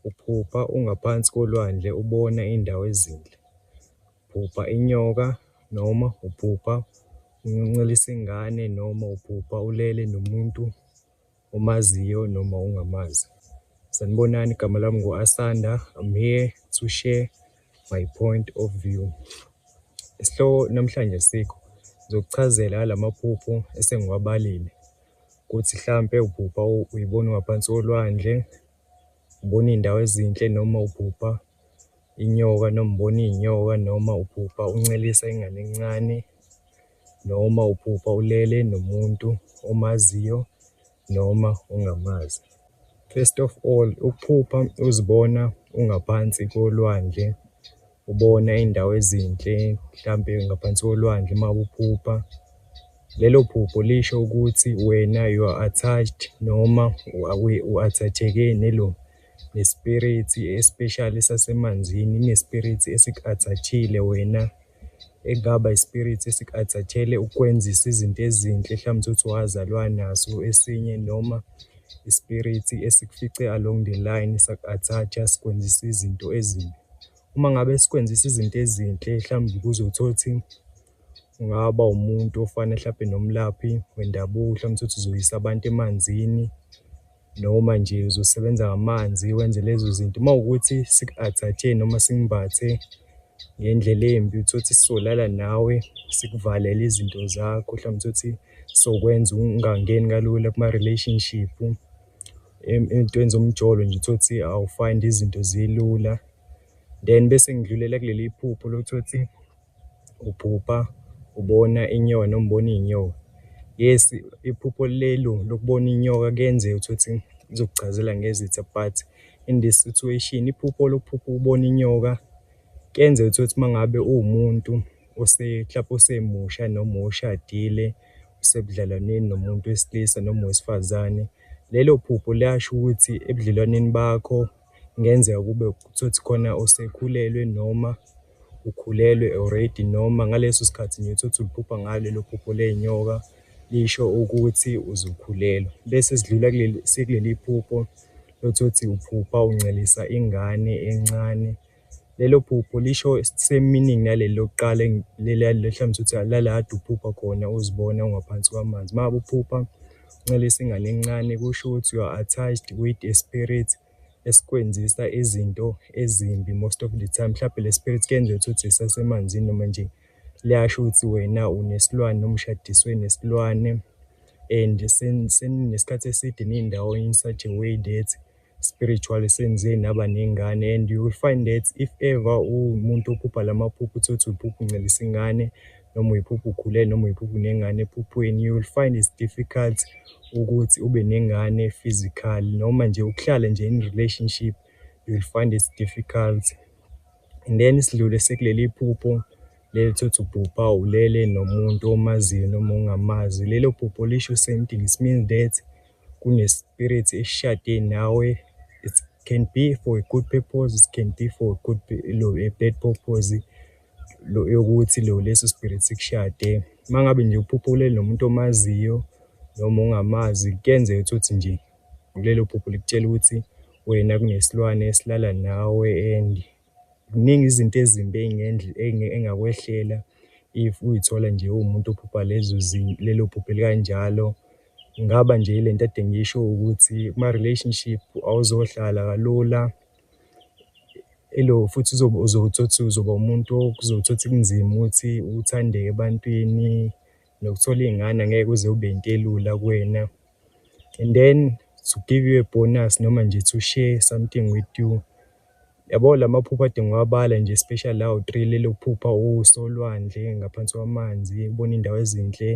Uphupha ungaphansi kolwandle ubona indawo ezinhle. Uphupha inyoka noma uphupha uncelisa ingane noma uphupha ulele nomuntu omaziyo noma ungamazi. Sanibonani, igama lami ngu-Asanda. I'm here to share my point of view. Isihloko namhlanje sikho ngizokuchazela la maphupho esengiwabalile ukuthi hlampe uphupha uyibona ungaphansi kolwandle ubona iy'ndawo ezinhle noma uphupha inyoka noma ubona iy'nyoka noma uphupha uncelisa ingane encane noma uphupha ulele nomuntu omaziyo noma ongamazi. First of all, ukuphupha uzibona ungaphansi kolwandle ubona iy'ndawo ezinhle mhlampe ngaphansi kolwandle uma uphupha lelo phupho lisho ukuthi wena you are attached noma u-athatheke nelo ne-spirit especially sasemanzini ine-spirit esiku-athathile wena ekungaba i-spirit esiku-athathele ukwenzisa izinto ezinhle mhlawumbe uthi wazalwa naso esinye noma ispirithi esikufice along the line saku-attach-a sikwenzisa izinto ezimbi. Uma ngabe sikwenzisa izinto ezinhle mhlawumbe kuze uthole ukuthi ungaba umuntu ofana mhlawumbe nomlaphi wendabuko mhlawumbe uthi uzoyisa abantu emanzini noma nje uzosebenza ngamanzi wenze lezo zinto uma ukuthi siku-athathe noma simbathe ngendlela embi uthole ukuthi sisolala nawe sikuvalele izinto zakho mhlawumbe uthole ukuthi sokwenza ungangeni kalula kuma-relationship entweni zomjolo nje uthole ukuthi awufind izinto zilula then bese ngidlulela kuleli iphupho lokuthi ukuthi uphupha ubona inyoka noma ubona iy'nyoka yes iphupho lelo lokubona inyoka kuyenzeka ukuthi ukuthi izokuchazela ngezitha but in this situation iphupho lokuphupha ubona inyoka kuyenzeka ukuthi ukuthi uma ngabe uwumuntu Useklabha usemusha noma ushadile usebudlelwaneni nomuntu wesilisa noma wesifazane lelo phupho liyasho ukuthi ebudlelwaneni bakho kungenzeka kube ukuthi khona osekhulelwe noma ukhulelwe already noma ngaleso sikhathi nje uthi uliphupha ngalo lelo phupho ley'nyoka lisho ukuthi uzokhulelwa bese sidlula sekuleli phupho lokuthi uthi uphupha uncelisa ingane encane Lelo phupho lisho same meaning naleli lokuqala leli lehlamisa ukuthi lala kade uphupha khona uzibona ungaphansi kwamanzi. Uma ngabe uphupha uncelisa ingane encane kusho ukuthi you are attached with a spirit esikwenzisa izinto ezimbi most of the time. Mhlawumbe le spirit kuyenzeka ukuthi isasemanzini noma nje liyasho ukuthi wena unesilwane noma ushadiswe nesilwane and seninesikhathi eside nindawonye in such a way that spiritually senze naba nengane and you will find that if ever umuntu ophupha lamaphupho uthi uthi uphupha uncelisa ingane noma uyiphupha ukhulele noma uyiphupha unengane ephuphweni you will find it's difficult ukuthi ube nengane physical noma nje ukuhlala nje in relationship you will find it's difficult and then isidlule sekuleli phupho leli thothi ubhubha ulele nomuntu omaziyo noma ungamazi lelo phupho lisho same thing it means that kune spirit eshade nawe it can be for a good purpose it can be for a good lo a bad purpose lo yokuthi lo leso spirit sikushade mangabe nje uphupha ulele nomuntu omaziyo noma ungamazi kuyenzeka ukuthi nje kulelo phupho likutshela ukuthi wena kunesilwane esilala nawe and Ziningi izinto ezimbi ey'ngakwehlela if uy'thola nje uwumuntu ophupha lezo lelo phupho elikanjalo. Kungaba nje ile nto ekade ngiyisho ukuthi kuma-relationship awuzohlala kalula, elo futhi uzobe uzothi uthi uzoba umuntu okuzothi uthi kunzima ukuthi uthandeke ebantwini, nokuthola iy'ngane angeke kuze kube yinto elula kuwena. And then to give you a bonus noma nje to share something with you. Yabo la maphupho adinga uwabala nje especially lawo three lelokuphupha usolwandle ngaphansi kwamanzi ubona indawo ezinhle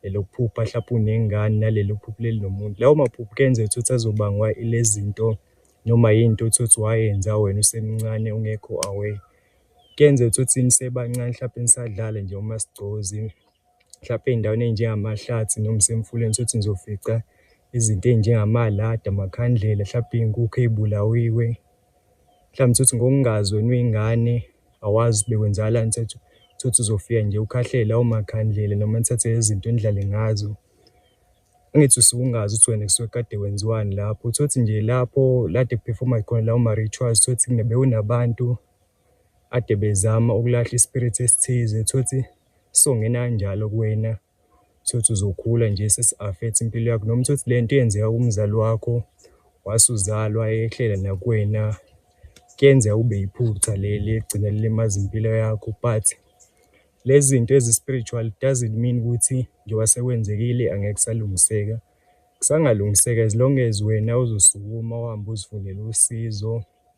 lelokuphupha hlapha unengane nalelokuphupha leli nomuntu lawo maphupho kenze ukuthi uthi azobangwa ilezinto noma yinto uthi uthi wayenza wena usemncane ungekho away kenze ukuthi nisebancane hlapha nisadlala nje uma sigcozi mhlampe ey'ndaweni ey'njengamahlathi noma isemfuleni sothi nizofica izinto ey'njengamaladi, amakhandlela, hlampe iy'nkukhu ey'bulawiwe. Mhlawumbe utholukuthi ngokungazi wena uyingane awazi ukuthi bekwenzakalani utholukuthi utholukuthi uzofika nje ukhahlele lawo makhandlela noma nithathe lezi zinto nidlale ngazo. Angithi usuke ungazi ukuthi wena kusuke kade kwenziwani lapho, utholukuthi nje lapho la kade kuphefoma khona lawo ma-rituals utholukuthi bewunabantu ade bezama ukulahla i-spirit esithize utholukuthi. Songena njalo kuwena sothi uzokhula nje sesi-affect impilo yakho noma uthi le nto yenzeka kumzali wakho wasuzalwa yehlela nakuwena kuyenzeka ube yiphutha leli egcine lilimaza impilo yakho but lezi zinto ezi-spiritual doesn't mean ukuthi njengoba sekwenzekile angeke kusalungiseka kusangalungiseka as long as wena uzosukuma uhambe uzifunele usizo